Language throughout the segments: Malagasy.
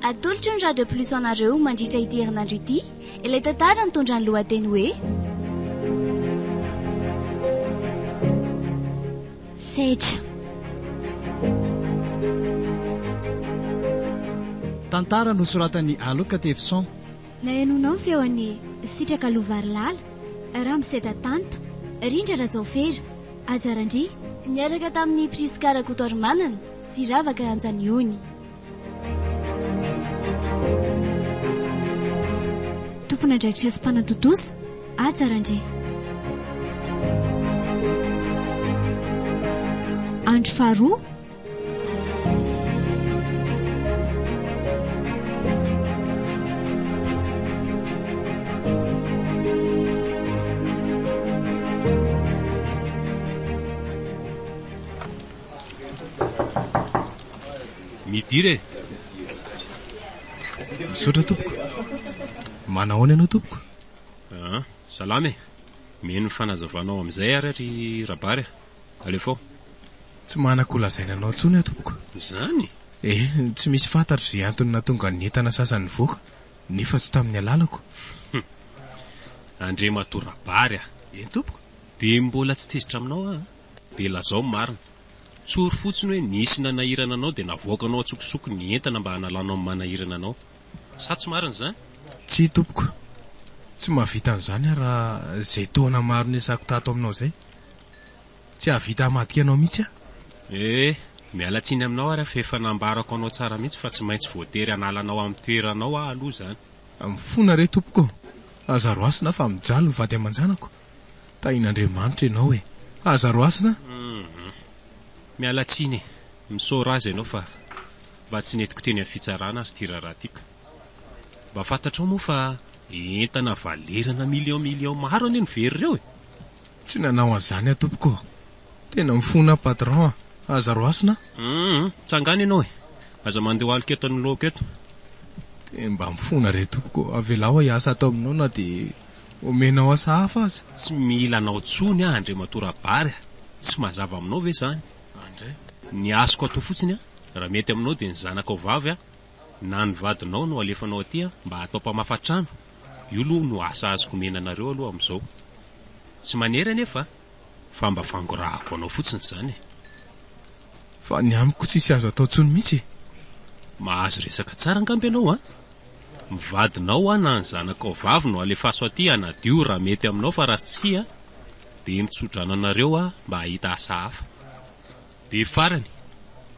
Atolotry ny Radio Plus anareo mandritra ity herinandro ity ilay tantara mitondra ny lohateny hoe Sedra. Tantara nosoratan'i Alok Tevson. Nahenoanao ny feon'i Sitraka Lovarilala, Ramoseda Tanta, Rindra Rajaofera, Aja Randria, niaraka tamin'i Prisca Rakotoarimanana sy Ravaka Ranjaniony. Tompon'andraikitra sy mpanatontosa, Aja Randria. Andro faharoa, Midira e! Misaotra tompoko. Manao ahoana ianao tompoko? Ah, salama e. Mihaino ny fanazavanao amin'izay ary ry Rabary a. Alefao. Tsy manako ho lazaina anao intsony aho tompoko. Izany? Eh, tsy misy fantatro izay antony nahatonga ny entana sasany nivoaka, nefa tsy tamin'ny alalako. Hum. Andriamatoa Rabary a! Eny tompoko. Dia mbola tsy tezitra aminao aho a! Dia lazao ny marina. Tsory fotsiny hoe nisy nanahirana anao dia navoakanao an-tsokosoko ny entana mba hanalanao ny manahirana anao. Sa tsy marina izany? Tsia tompoko. Tsy mahavita an'izany aho raha izay taona maro niasako tato aminao izay. Tsy hahavita hamadika anao mihitsy aho. Eh! Miala tsiny aminao ary aho fa efa nambarako anao tsara mihitsy fa tsy maintsy voatery hanala anao amin'ny toeranao aho aloha izany. Mifona re tompoko ô! Aza roasina aho fa mijaly ny vady aman-janako. Tahin'Andriamanitra ianao e! Aza roasina aho! Hum! Miala tsiny e! Misaora aza ianao fa mba tsy nentiko teny amin'ny fitsarana ary ity raharaha ity ka! Mba fantatrao moa fa entana valeur-na millions millions maro anie no very ireo e! Tsy nanao an'zany aho tompoko ô. Tena mifona aho patron a! Aza roasina a! Hum, tsangano ianao e! Aza mandeha ho aloka eto anoloako eto. Dia mba mifona re tompoko ô! Avelao aho hiasa ato aminao na dia omenao asa hafa aza. Tsy mila anao tsony aho Andriamatoa Rabary a! Tsy mazava aminao ve zany? Andry e! Ny asoko atao fotsiny a! Raha mety aminao dia ny zanakao vavy a! Na ny vadinao no alefanao aty an mba atao mpamafa trano, io aloha no asa azoko omena anareo aloha amin'izao. Tsy manery anefa a! Fa mba fangorahako anao fotsiny izany e! Fa ny amiko tsisy azo atao tsony mitsy e! Mahazo resaka tsara angamba ianao an! Ny vadinao an na ny zanakao vavy no alefaso aty hanadio raha mety aminao fa raha tsia dia mitsodrano anareo aho mba hahita asa hafa. Dia farany,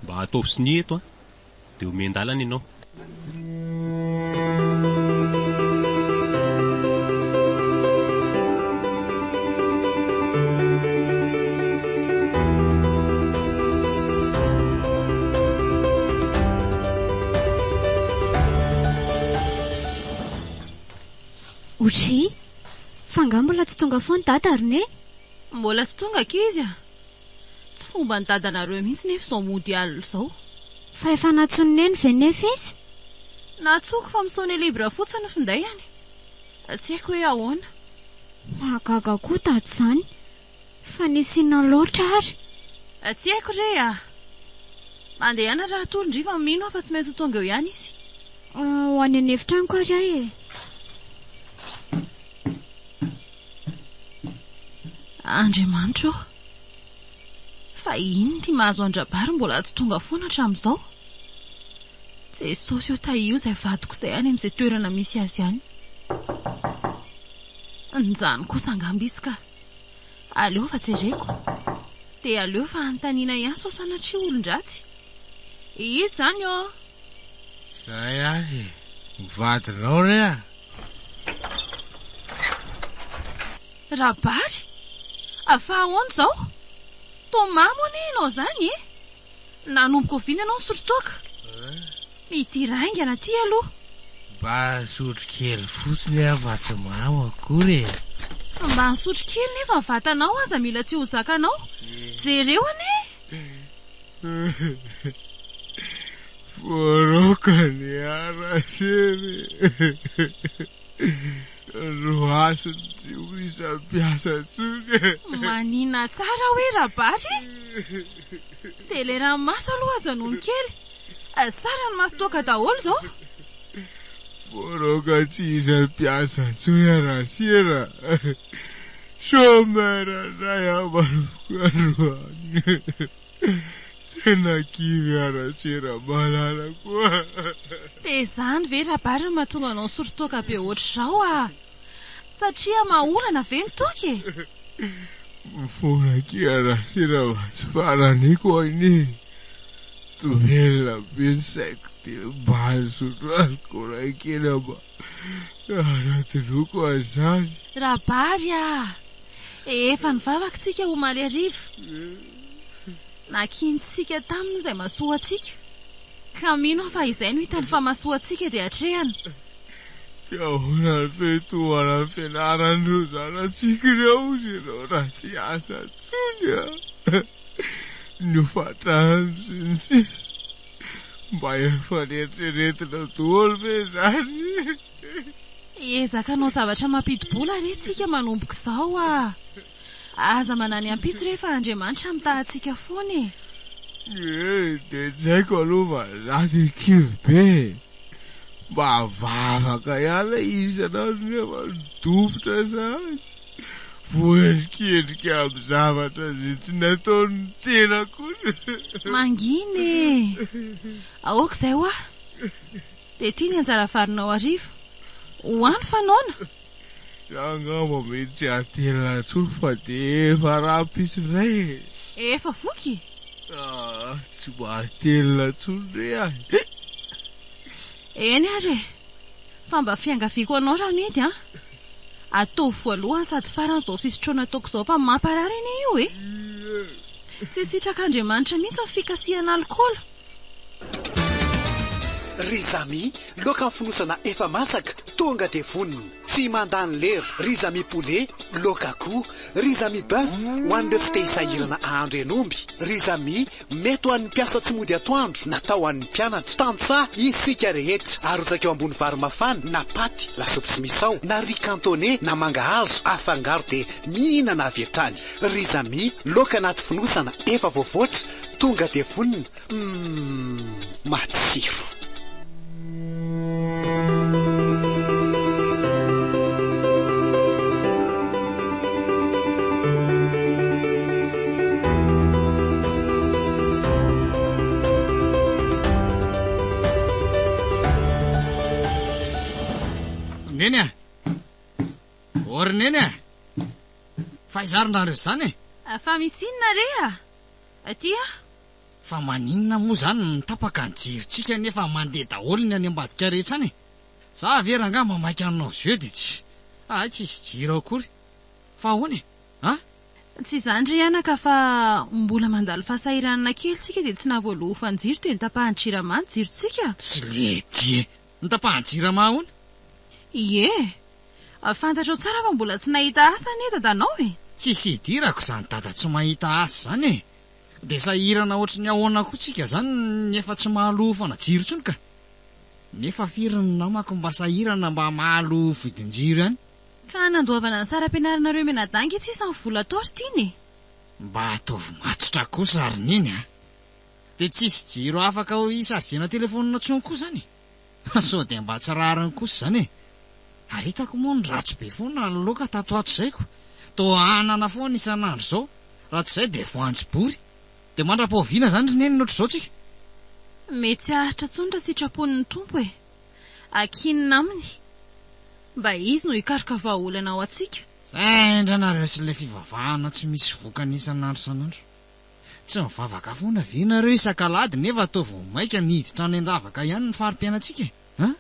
mba ataovy sonia eto an! dia omen-dalana ianao. Ochi, fa angaha mbola tsy tonga foana Dada ary Neny? Mbola tsy tonga ankizy a! Tsy fomban'i dadanareo mihitsy nefa izao mondial izao. Fa efa nantsoin'i neny ve nefa izy? Nantsoiko fa misaune libre fotsiny ny finday any. Tsy haiko hoe ahoana. Mahagaga koa dada izany. Fa nisy inona loatra ary? Tsy haiko re a! Mandehana raha toa ry fa mino aho fa tsy maintsy ho tonga eo ihany izy. Ho any an'efitranoko ary aho e! Andriamanitra ô! Fa inona ity mahazo an-dRabary mbola tsy tonga foana hatramin'izao? Jesosy ô tahio izay vadiko izay any amin'izay toerana misy azy any. Njany kosa angamba izy ka. Aleo fa jereko. Dia aleo fa anontaniana ihany sao sanatria olon-dratsy. Izy zany ô! Zay ary e! Ho vadinao re a! Rabary! Fa ahoana izao? Thomas moa anie ianao izany e! Nanomboka oviana ianao nisotrotroaka? Ity raingana ity aloha! Mba nisotro kely fotsiny aho fa tsy mamo akory e! Mba nisotro kely nefa ny vatanao aza mila tsy ho zakanao! Jereo anie! Voaroaka ny haraseny no hasiny tsy ho isa mpiasa tsony e! Manina tsara hoe Rabary e! Dia ilay ranomaso aloha aza nony kely Saran'ny maso toaka daholo izao. Voaraoka tsy hisy mpiasa intsony Rasera. Chômeur indray ambaroko androany. Tena kivy aho Rasera malalako a. Dia izany ve Rabary no mahatonga anao misory toaka be ohatr'izao a! Satria mahaolana ve ny toky e? Mifona kira Rasirava tsy farany koa anie Domelina be ny saiko de mba azonao alikaola kely amba hanadinoako an'izany. Rabary a! Efa ny vavaka tsika omaly hariva nakiantsika taminy izay masoa antsika ka mino aho fa izay no hitany fa masoa antsika dia atrehany. Dia ahoana ny fiantomana ny fianaran'ireo zanatsika ireo hozy ianao raha tsy hiasa intsony an! ny hofatrany sy ny sisa Mba efa neritreretina daholo ve izany e! Hiezaka hanao zavatra mampidi-bola re tsika manomboka izao a! Aza manany ampitso re fa Andriamanitra mitaha antsika foana e! Ee dia tsy haiko aloha fa za dia kivy be e! Mba vavaka ihany lay izy isan'andro nefa dofotra sahady! Voaendrikendrika amin'ny zavatra izay tsy nataon'ny tena kosa! Mangina e! Aoka izay hoa! Dia ity ny anjara valinao hariva. Ho any fa noana! Za angamba mety tsy hatelina intsony fa dia efa rahampitso indray e! Efa voky e! Ah, tsy mba hatelina intsony re ahy! Eny ary e! Fa mba fiangaviako anao Ramidy an! Ataovy voalohany sady farany izao fisotroana ataoko izao fa mamparary anie io e! Tsy sitrak'Andriamanitra mihitsy ny fikasihan'alikaola. Ry Zamy, loaka ny fonosana efa masaka, tonga dia vonona. Tsy mandany lera. Ry Zamy poulet, loaka akoho. Ry Zamy boeuf, ho an'ireo tsy te hisahirana ahandro hen'omby. Ry Zamy, mety ho an'ny mpiasa tsy mody atoandro, natao ho an'ny mpianatra. Tantsaha isika rehetra. Arotsaka eo ambony vary mafana na paty, lasopy sy misao, na riz cantonais na mangahazo, afangaro dia mihinana avy hatrany. Ry Zamy, loaka anaty fonosana efa voavoatra, Tonga dia vonona. Umm matsiro. Neny a! Ô ry Neny a! Fa aiza ary nareo izany e? Fa misy inona re a? Aty a! Fa maninona moa izany no tapaka ny jerintsika nefa mandeha daholo ny any ambadika rehetra any e! Za ve rangaha mba maika hanao jeu dia tsy, hay tsy hisy jiro ao akory. Fa ahoana e? An? Tsy izany re anaka fa mbola mandalo fahasahiranana kely tsika dia tsy nahavoaloa ho fanjiro dia nitapahan'ny jirama ny jirontsika? Tsy lety e! Ny tapahan'ny Jirama hono? Ie! Fantatrao tsara fa mbola tsy nahita asa anie dadanao e! Tsisy hidirako izany dada tsy mahita asa izany e! Dia sahirana ohatry ny ahoana koa tsika izany ny efa tsy mahalofana jiro intsony ka! Nefa firy ny namako mba sahirana mba mahaloa vidin-jiro ihany? Ka nandoavana ny saram-pianaranareo mianadahy ange sisa ny vola tao ry Tiana e! Mba ataovy matotra kosa ry Neny a! Dia tsy hisy jiro afaka ho hi-chargena telefonina intsony koa izany e! Sao dia mba tsy rariny kosa izany e! Ary hitako moa ny ratsy be foana ny loka tato ato izay ko! Toa hanana foana isan'andro izao, raha tsy izay dia voanjo bory! Dia mandrapa oviana izany ry Neny ny ohatr'izao tsika? Mety tsy haharitra intsony raha sitrapony ny Tompo e! Ankinina Aminy mba Izy no hikaroka vahaolana ho antsika. Zay ndray nareo sy ilay fivavahana tsy misy vokany isan'andro isan'andro. Tsy mivavaka foana ve nareo isak'alahady nefa toa vao maika ny hiditra any an-davaka ihany ny fari-piainantsika e? An!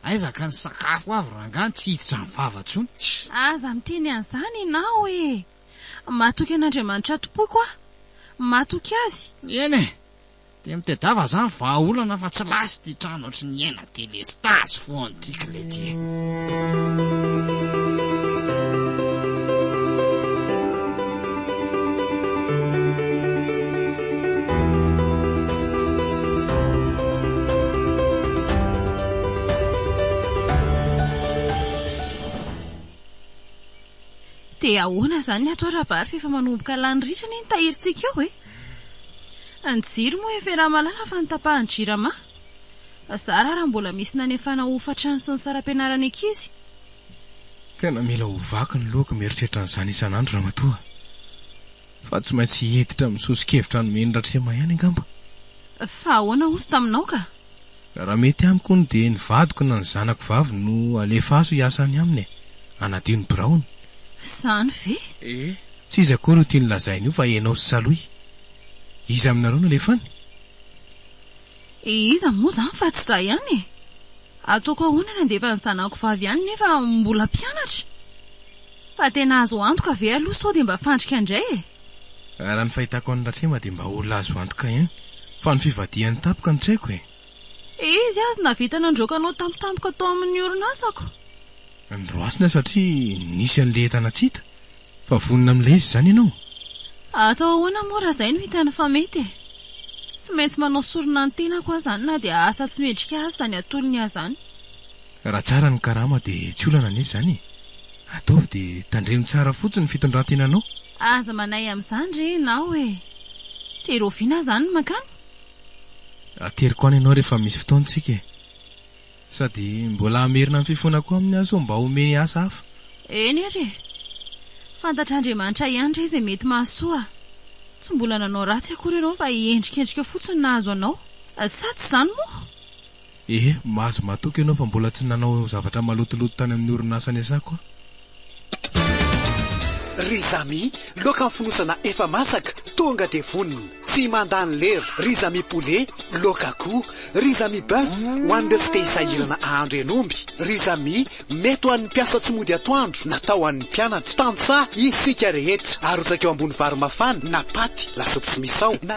Aiza ka ny sakafo avy rangah ny tsy hiditra ny vava intsony? Tch! Aza miteny an'izany ianao e! Matoky an'Andriamanitra tompoko aho! Matoky Azy! Eny e! Dia mitedava zany vahaolana fa tsy last ty trano ohatry ny hiaina delestage foan ty kle ty e. Dia ahoana izany ny atao Rabary fa efa manomboka lany ritra anie ny tahirintsika eo e! Ny jiro moa efa iramalala fa ny tapahan'ny jirama? Zara raha mbola misy nanefana hofatrano sy ny saram-pianarany ankizy. Tena mila ho vaky ny lohako mieritreritra an'izany isan'andro ramatoa a! Fa tsy maintsy hiditra amin'ny soso-kevitra nomen'i Ratrema ihany angamba. Fa ahoana hozy taminao ka? Raha mety amiko hono dia ny vadiko na ny zanako vavy no alefaso hiasa any aminy e! Hanadio ny biraony. Izany ve? Ee, tsy izy akory io tiany lazaina io fa ianao sy Salohy. Iza aminareo no alefany? Ee, iza moa izany fa tsy izaho ihany e! Ataoko ahoana ny handefa ny zanako vavy any nefa mbola mpianatra? Fa tena azo antoka ve aloha sao dia mba fandrika indray e! Raha ny fahitako an'i Ratrema dia mba olona azo antoka ihany fa ny fivadihany tampoka no tsy haiko e! Izy aza nahavita nandroaka anao tampotampoka tao amin'ny orinasako. Nandroasina satria nisy an'ilay entana tsy hita. Fa vonona amin'ilay izy izany ianao? Atao ahoana moa raha izay no hitany fa mety e! Tsy maintsy manao sorona ny tenako aho izany na dia asa tsy mendrika aza izany atolony ahy izany. Raha tsara ny karama dia tsy olana anie izany e! Ataovy dia tandremo tsara fotsiny ny fitondran-tenanao. Aza manahy amin'izany re ianao e! Tery oviana aza any ny mankany? Ateriko any ianao rehefa misy fotoana isika e! Sady mbola hamerina ny fifonako aminy aho sao mba omeny asa hafa. Eny ary e! Fantatr'Andriamanitra ihany re izay mety mahasoa. Tsy mbola nanao ratsy akory ianao fa endrikendrika fotsiny nahazo anao. Sa tsy izany moa? Eh, mahazo matoky ianao fa mbola tsy nanao zavatra malotoloto tany amin'ny orinasa niasako aho. Ry Zamy, laoka fonosana efa masaka, tonga dia vonona. Tsy mandany lera. Ry Zamy poulet, laoka akoho. Ry Zamy boeuf, ho an'ireo tsy te-hisahirana ahandro hen'omby. Ry Zamy, mety ho an'ny mpiasa tsy mody atoandro, natao ho an'ny mpianatra. Tantsaha isika rehetra. Arotsaka eo ambony vary mafana, na paty, lasopy sy misao, na.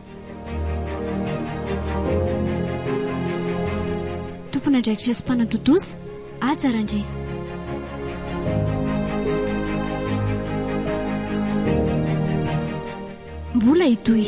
Tompon'andraikitra sy mpanatontosa, Haja Randria. Mbola hitohy.